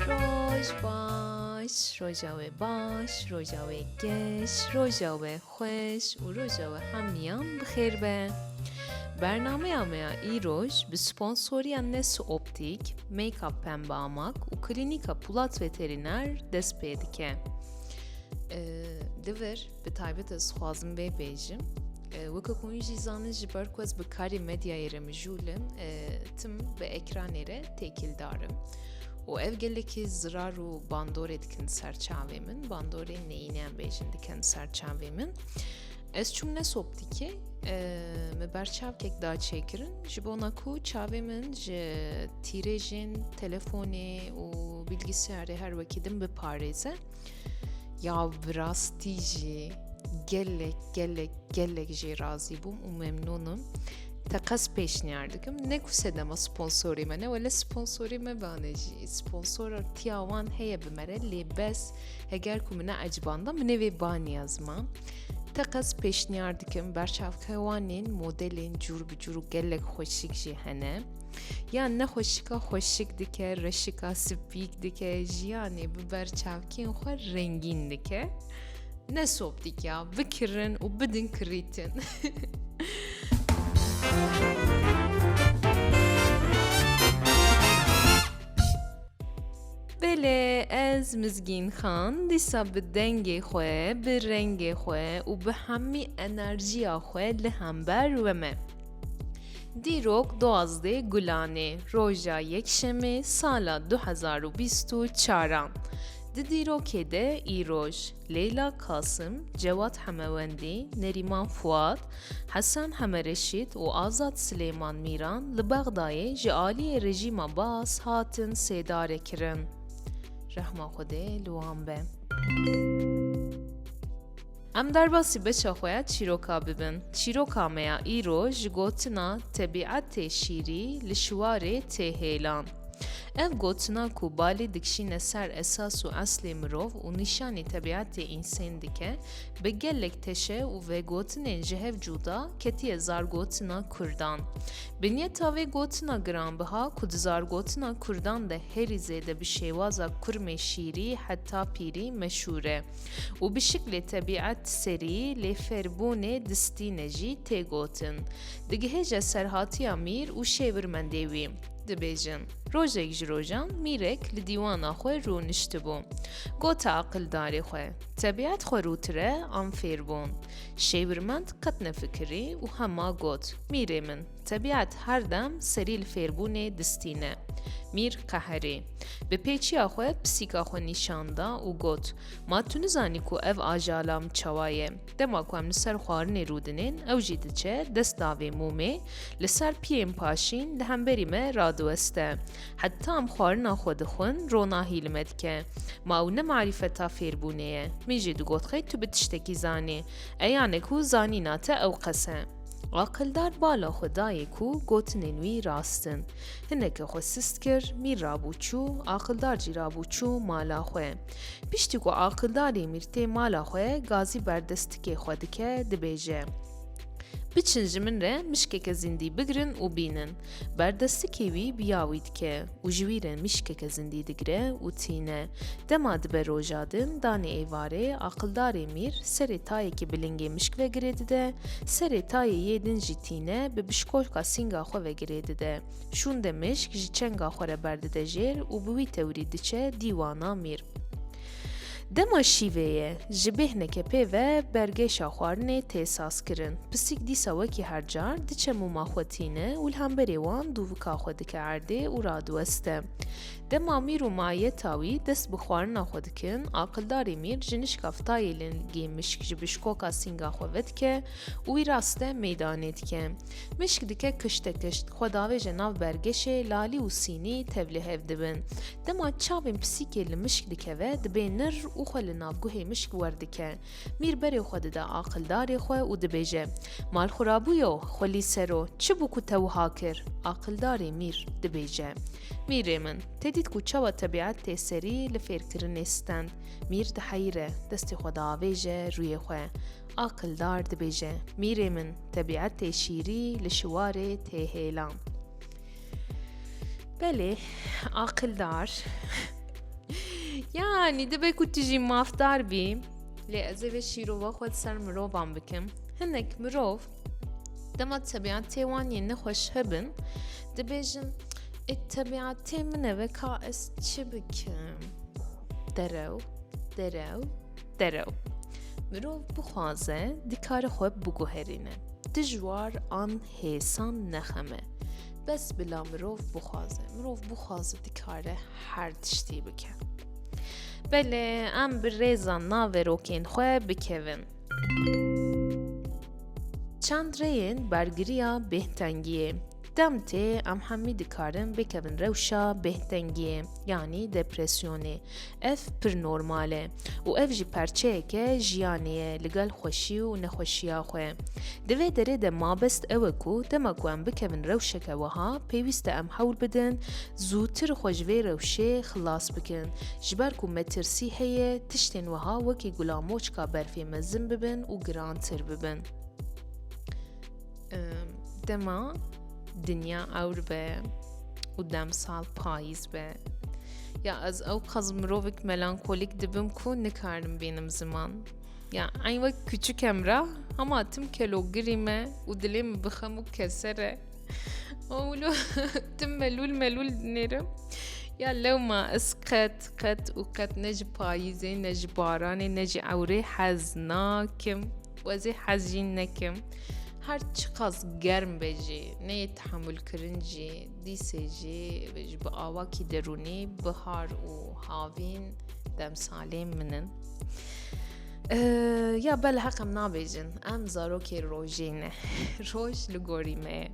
Roj baş, roja we baş, roja we geş, roja we xweş û roja we hemîyan bi xêr be. Bernameya me ya îroj bi sponsoriya Nesu Optik, Make-up Pembe Amak û Klînîka Pulat Veterîner dest pê dike. Divir Bi taybet ez xwazim bê bêjim. Weke ku hûn jî zanin ji ber ku ez bi karê medyayê re mijûlim tim bi ekranê re têkildarim. û ev gelekî zirar û bandorê dikin ser çavê min bandorê neyîneyan bêjin dikin ser çavê min ez çûm ne soptikê me ber çavkek da çêkirin ji bona ku çavê min ji tîrêjên telefonê û bilgisiyarê her wekî din biparêze Ya bi rastî jî gelek gelek gelek jê razî bûm û memnûnim. Te qes pêşniyar dikim ne ku sedema sponsorê me ne wele sponsorê me bane jî sponsora tiya wan heye bi me re lê bes heger ku mine ecbanda minê vê baniya ziman. Te qes pêşniyar dikim berçavkewanên modelên cûr bi cûr û gelek xweşik jî hene. Yan ne xweşika xweşik dike, reşika spîk dike, jiyanê bi berçavkên xwe rengîn dike. Ne sob dike, bikirin û bidin kirîtin. Belê ez Mizgîn Xan dîsa bi dengê xwe, bi rengê xwe û bi hemî enerjiya xwe li hember we me. Dîrok duwazdeh Gulan ê roja Yekşemê sala du hezar û bîst û çar a. Di dîrokê de îroj, Leyla Kasim, Cewad Hemewendî, Nerîman Fuat, Hesen Hemereşît û Azad Silêman Mîran li Bexdayê ji aliyê rejîma Baas hatin sêdare kirin. Rehma Xwedê li wan be. Em derbasî beşa xwe ya çîroka bibin. Çîroka me ya îro ji gotina Tebîet tê şîrî li şiwarê tê hêlan. Ev gotina ku balî dikşîne ser esas û eslê mirov û nîşanî tebîetê însên dike, bi gelek teşe û vegotinên ji hev cûda ketiye zargotina kurdan. Binyeta vê gotina giranbiha ku di zargotina kurdan de herî zêde bi şêwaza kurmê şîrî heta pîrî meşûr e. û bi şiklê tebîet serî lê fêrbûnê distîne jî tê gotin. Digihêje serhatiya mîr û şêwirmendê wî. Dibêjin, rojek ji rojan mîrek li dîwana xwe rûniştibû. Gote aqildarê xwe, tebîet xwe rûtire an fêrbûn. Şêwirmend qet nefikirî û hema got, mîrê min! Tebîat her dem serî li fêrbûnê distîne. Mîr Qeherî, bi pêçiya xwe pisîka xwe nîşan da û got, Ma tu nizanî ku ev ajala min çawa ye. Dema ku em li ser xwarinê rûdinên, ew jî diçe dest da vê mûmê, li ser piyên paşîn li hemberî me radiweste. Heta em xwarina xwe dixwin, ronahî li me dike. Ma ew ne marîfeta fêrbûnê ye. Min jî digot xê tu bi tiştekî zanî. Eyanek û zanîna te ewqes e. Aqildar bala xwe dayê ku gotinên wî rast in. Hineke xwe sist kir, mîr rabû çû, aqildar jî rabû çû mala xwe. Piştî ku aqildarî mîr tê mala xwe, gazî berdest tikê xwe dike, dibêje, Biçin ji min re mişkeke zîndî bigirin û bînin. Berdestikê wî bi ya wî dike û ji wî re mişkeke zindî digire û tîne. Dema dibe roja din, danê êvarê, aqildarê mîr serê tayekî bi lingê mişk ve girê dide, serê tayê yê din jî tîne bi bişkolka sînga xwe ve girê dide. Şûnde mişk ji çenga xwe re berdide jêr û bi wî tewrî diçe dîwana mîr. Dema şîvê ye, ji bêhneke pê ve bergeşa xwarinê tê sazkirin. Pisîk dîsa wekî her car, diçe mûma xwe tîne û li hemberê wan dûvika xwe dike erdê û radiweste. Dema Mîr û Maye Tawî dest bi xwarina xwe dikin, aqildarê Mîr ji nişka fitayê lingê mişk ji bişkoka sînga xwe vedike û wî raste meydanê dike. Mişk dike kişte kişt, xwe davêje nav bergêşê, lalî û sînî tevlî hev dibin. Dema çavên pisîkê li mişk dikeve, dibê nir û xwe li navguhê mişk werdike. Mîr berê xwe dide aqildarê xwe û dibêje, Mal xurabûyo, xwelî sero, çi bû ku te wiha kir? Aqildarê mîr, dibêje, Mîrê min, te dît ku çawa tebîet tê serî li fêrkirinê stend. Mîr diheyre, destê xwe diavêje rûyê xwe. Aqildar dibêje, Mîrê min, tebîetê şîrî li şiwarê tê hêlan. Belê, aqildar, yanî dibe ku tu jî mafdar bî, lê ez ê vê şîrova xwe li ser mirovan bikim. Hinek mirov dema tebîetê wan yên nexweş hebin, dibêjin, ê tebîetê min e ve ka ez çi bikim? Derew, derew. Derew. Mirov bixwaze dikare xwe biguherîne. Dijwar an hêsan nexeme. Bes bila mirov bixwaze. Mirov bixwaze dikare her tiştî bike. Belê em bi rêza naverokên xwe bikevin. Çend rêyên bergiriya bêhtengiyê. Demtê em hemî dikarin bikevin rewşa bêhtengiyê yanî depresyonê. Ev pir normal e û ev jî parçeyeke jiyanê ye li gel xweşî û nexweşiya xwe. Di vê derê de mabest ew e ku dema ku em bikevin rewşeke wiha pêwîst e em hewl bidin zûtir xwe ji vê rewşê xilas bikin ji ber ku me tirsî heye tiştên wiha wekî gulamoçka berfê mezin bibin û girantir bibin. Dema dinya ewr be û demsal payîz be. Ya ez ew qez mirovek melankolîk dibim ku nikarim bînim ziman. Ya eyn wek küçükem ra hema tim kelogirî me û dilê min bixem û kesere. Ewlo tim melûl melûl dinêrim. Ya lewma ez qet qet û qet ne ji payîzê ne ji baranê ne ji ewrê hez nakim. Wezî hez jî nekim. Her çiqas germ be jî neyê tehamulkirin jî dîsê jî ji bi awakî derûnî bihar û havîn demsalê min in. Ya bel heq em nabêjin em zarokê rojê ne roj li gorî me ye.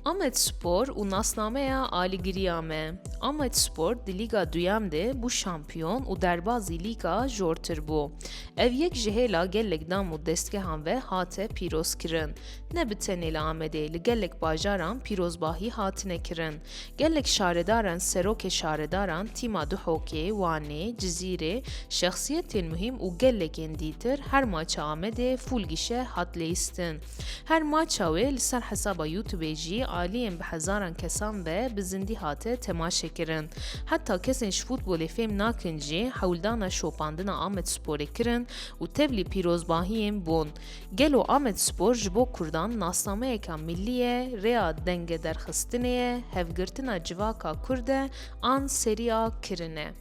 Amedspor û nasnameya aligiriya me. Amedspor di Lîga Duyem de bû şampiyon û derbazî lîga jortir bû. Ev yek ji hêla gelek dam û destgehan ve hate pîrozkirin. Ne bi tenê li Amedê, li gelek bajaran pîrozbahî hatine kirin. Gelek şaredaran, serokê şaredaran, tîma Duhokê, Wanê, Cizîrê, şexsiyetên muhîm û gelekên dîtir her maça Amedê fûl gişe hat lêistin. Her maça wê li ser hesaba Youtubê jî aliyên bi hezaran kesan ve bi zindî hate temaşekirin. Heta kesên ji futbolê fêm nakin jî hewldana şopandina Amedsporê kirin û tevlî pîrozbahiyên bûn. Gelo Amedspor ji bo kurdan nasnameyeka millî ye, rêya dengederxistinê ye, hevgirtina civaka kurd e an seriya kirin e.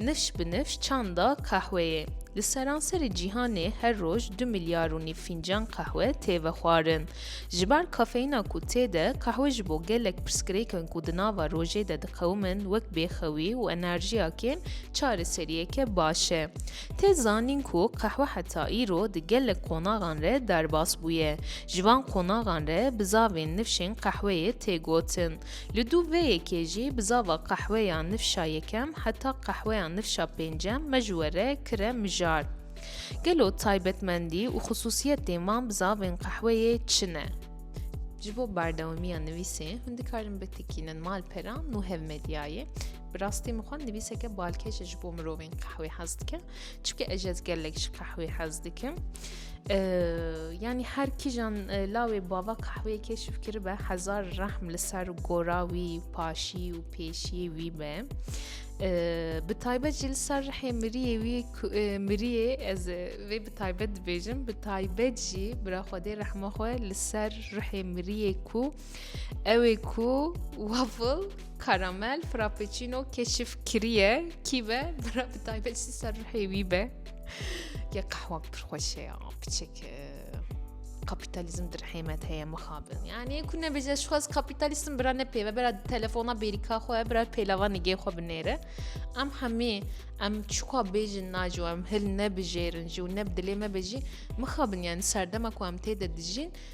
Nifş bi nifş çanda qehweyê. Li seranserê cîhanê her roj du milyar û nîv fîncan qehwe tê vexwarin. Ji ber kafeyîna ku tê de, qehwe ji bo gelek pirsgirêkin ku di nava rojê de diqewimin wek bêxewî û enerjiya kêm çareseriyeke baş e. Tê zanîn ku qehwe heta îro di gelek qonaxan re derbas bûye. Ji van qonaxan re bi zavên nifşên qehweyê tê gotin. Li dû vê yekê jî bi zava qehweya nifşa yekem heta qehweya nifşa pêncem me ji we re kire mijar. Gelo taybetmendî û xisûsiyetên van bi zavên qehweyê çi ne? Ji bo berdewamiya nivîsê hûn dikarin bitikînin malpera nû hevmedyayê. Bi rastî min xwe nivîseke balkêş e ji bo mirovên qehwê hez dike. Çike ez ez gelek ji qehwê hez dikim. Yani her kijan lawê bava kahvê keşif kiribe hezar rehm li ser gora wî paşî û pêşiyê wî be. Bi taybet jî li ser rehê miriyê wî miriyê ez vê bi taybet dibêjim bi taybet jî bira xwedê rehma xwe li ser rehê miriyê ku Ew ê ku waffle, karamel, frappuccino keşif kiriye kî be bira bi taybet jî ser ruhê wî be. Ya qehwa pir xweş e piçek kapitalizm dirhêmet heye mixabin. Yani ku nebêje şu xwaz kapitalism bira ne pêve bira telefona bêrîka xwe bira pêlava nigê xwe binêre. Em hemî em çuka bêjin naco em hil nebijêrin jî û ne bi dilê me bejî mixabin yani serdema ku em tê de dijîn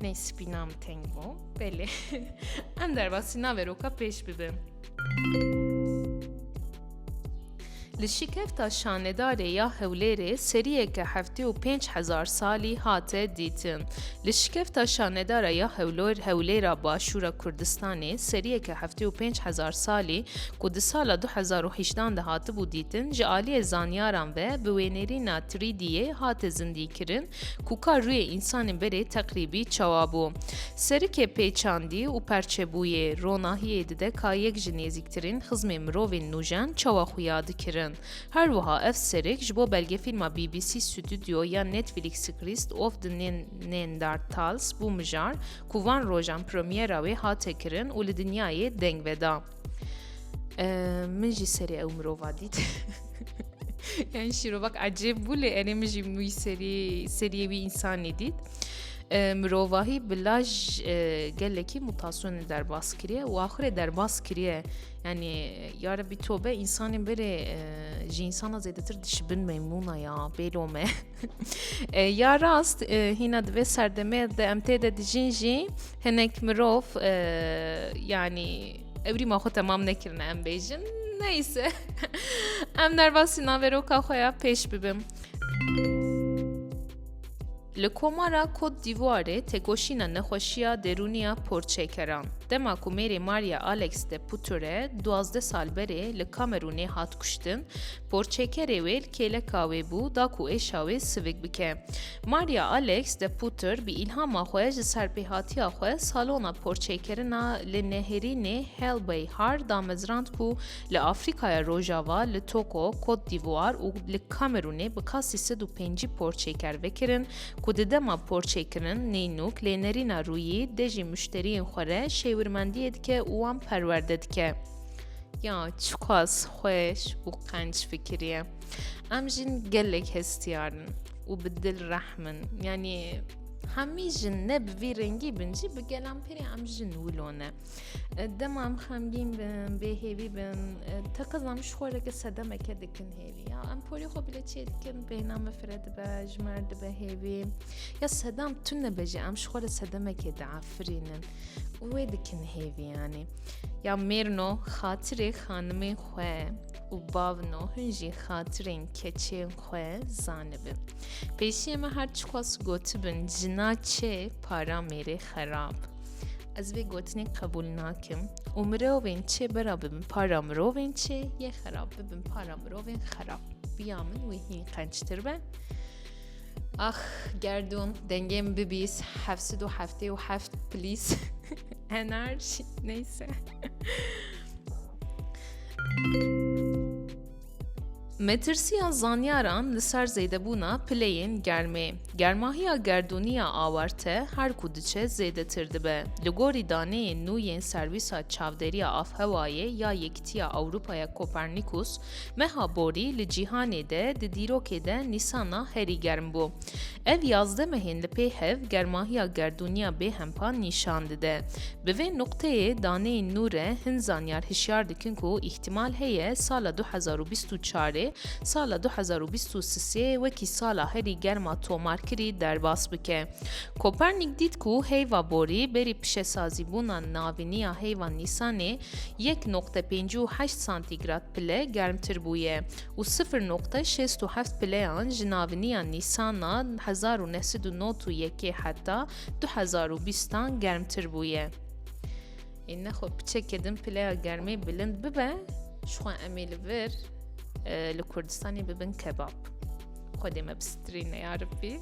Ney spîna min teng bû. Belê. Em derbasî navê roka pêş bibin. Li şîkefta şanedarê ya Hewlêrê seriyeke heftê û pênc hezar salî hate dîtin. Li şîkefta şanedara ya Hewlor Hewlêra Başûra Kurdistanê seriyeke heftê û pênc hezar salî ku di sala du hezar û hîşdan de hatibû dîtin ji aliyê zanyaran ve bi wênêrîna 3D'yê hate zindîkirin Ku ka rûyê însanê berê teqrîbî çawa bû. Serikê pê çandî û perçebûyê, ronahiyê dide ka yek ji nêzîktirîn xizmê mirovên nûjen çawa xuya dikirin. Her wiha ev serik ji bo belgefîlma BBC Studio ya Netflix Christ of the Neanderthals bû mijar ku van rojan premyera wê hate kirin û li dinyayê deng veda. Min jî serê ew mirova dît. Yani şîrovak ecêb bû lê erê min jî wî serî seriyê wî însanî dît. Mirovahî bi laj gelekî mutasyonê derbas kiriye û axirê derbas kiriye. Yani ya rebî tobe însanên berê ji însana zêdetir dişibin meymûna ya bêlo me. ya rast hîna di vê serdemê de em tê de dijîn jî hinek mirov yanî evrîma xwe temam nekirine em bêjin neyse em nervasî naveroka xwe ya pêş bibim. Li komara Kot Dîvoarê têkoşîna nexweşiya derûniya porçekeran. Dema ku mêrê Maria Alex de Puture duwazdeh sal berê li Kamerûnê hat kuştin, Porçekerê wê li kêleka wê bû da ku êşa wê sivik bike. Maria Alex de Putter bi îlhama xwe ji serpêhatiya xwe salona porçêkirina li nehêrînê Helbey Har damezrand ku li Afrîkaya Rojava, li Togo, Kot Dîvuar û li Kamerûnê bi kasî sed û pêncî porçêker vekirin ku di dema porçêkirin nênûk lênerîna rûyî dê jî muşteriyên xwe re şêwirmendiyê dike û wan perwerde dike. Ya çiqas xweş û qenc fikiriye. Em jin gelek hestiyarin û bi dil rehmin. Yanî hemî jin ne bi vî rengî bin jî bi gelan pêrê em jin wilone. Dema em xemgîn bin, bêhêvî bin, teqez em ji xoreke sedemeke dikin hêvî. Ya em porê xwe bile çê dikin, bêhna me fire dibe, ji mer dibe hêvî. Ya sedam tune be jî em ji xwe re sedemekê diafirînin. û wê dikin hêvî yanî ya mêrno xatirê xanimên xwe û bavno hin jî xatirên keçên xwe zanibin. Pêşiyê me her çixwas gotibin jina çê para mêrê xerab. Ez vê gotinê qebûl nakim û mirovên çê bera bibin para mirovên çê yê xerab bibin para mirovên xerab. Biya min wê hîn qençtir be. Ax gerdûn dengê min bibîs heft sid û heftê û heft plîs henar jî neyse Metirsiya zanyaran li ser zêdebûna pileyên germê. Germahiya gerdûniya awarte her ku diçe zêdetir dibe. Li gorî daneyên nû yên Serwîsa Çavdêriya Avhewayê ya Yekîtiya Ewropaya Kopernikus, Meha borî li cîhanê de di dîrokê de nîsana herî germ bû. Ev yazdeh mehên li pê hev germahiya gerdûniya bêhempa nîşan dide. Bi vê nuqteyê daneyên nû re hin zanyar hişyar dikin ku îhtîmal heye sala du hezar û bîst û çarê sala du hezar û bîst û sisê wekî sala herî germa tomarkirî derbas bike. Kopernik dît ku heyva borî berî pişesazîbûna navîniya heyva nîsanê yek noqte pêncî û heşt santîgrad pile germtir bûye û sifir noqte şêst û heft pileyan ji naviniya Nîsana hezar û neh sed û nod û yekê heta du hezar û bîst an germtir bûye. Ê nexwe piçeke din pileya germê bilind bibe, ji xwe em ê li vir li Kurdistanê bibin kebab. Xwedê me bi strîne ya Rabbî.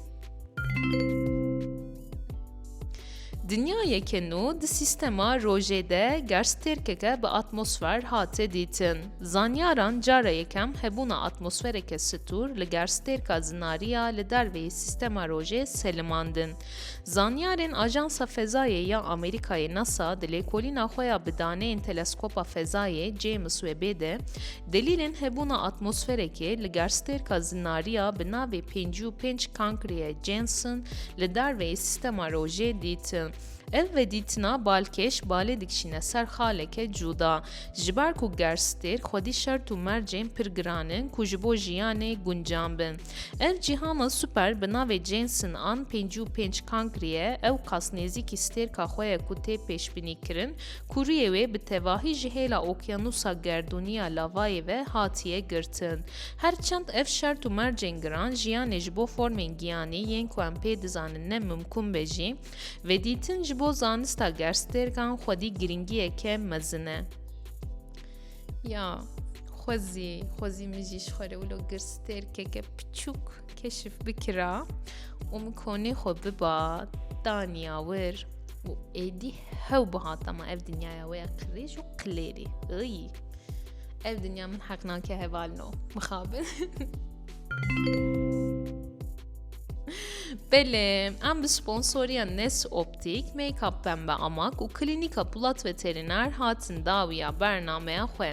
Dinyayeke nû di sîstema rojê de gerstêrkeke bi atmosfer hate dîtin. Zanyaran cara yekem hebûna atmosfereke stûr li gerstêrka zinariya li dervê sîstema rojê selimandin. Zanyarên Ajansa Fezayê ya Amerîkayê NASA di lêkolîna xwe ya bi daneyên teleskopa fezayê James Webbê de Delîlên hebûna atmosferekê li garstêrka Zinariya bi navê pêncî û pênc Cancria Janssen li darveyê sîstema rojê dîtin. Ev vedîtina balkêş balê dikişîne ser xaleke cûda. Ji ber ku garstêrk xwedî şert û mercên pir giran in ku ji bo jiyanê guncan bin. Ev cîhana super bi navê Janssen an pêncî û pênc Cancria ewqas nêzîkî stêrka xwe ye ku tê pêşbînîkirin Kuriyê wê bi tevahî ji hêla okyanûsa gerdûnî ya lavayê ve hatiye girtin. Her çend ev şert û mercên giran jiyanê ji bo formên giyanî yên ku em pê dizanin ne mimkûn be jî, vedîtin ji bo zanista gerstêrkan xwedî girîngiyeke mezin e. Ya xwezî, xwezî min jî ji xwe re wilo girstêrkeke piçûk keşif bikira û min konê xwe biba, daniya wir û êdî Hew bihata me ev dinyaya wê ya qirêj û qilêrî. Iyy. Ev dinya min heq nake hevalno. Mixabin. Belê, em bi sponsoriya Nes Optik, Make-up Pembe Amak û Klînîka Pulat Veterîner hatin dawiya bernameya xwe.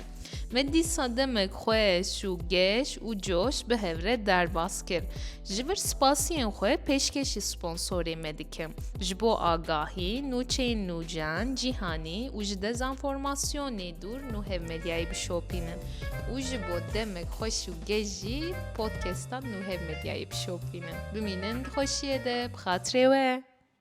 Me dîsa demek xweş û geş û coş bi hevre derbas kir. Ji vir spasiyên xwe pêşkêşî sponsorê me dikim. Ji bo agahî, nûçeyên nûcen, cîhanî û ji dezanformasyonê dûr nû hev medyayê bişopînin û ji bo demek xweş û geş jî podcastan nû hev medyayê bişopînin. Bimînin di xweşiyê de bi xatirê we.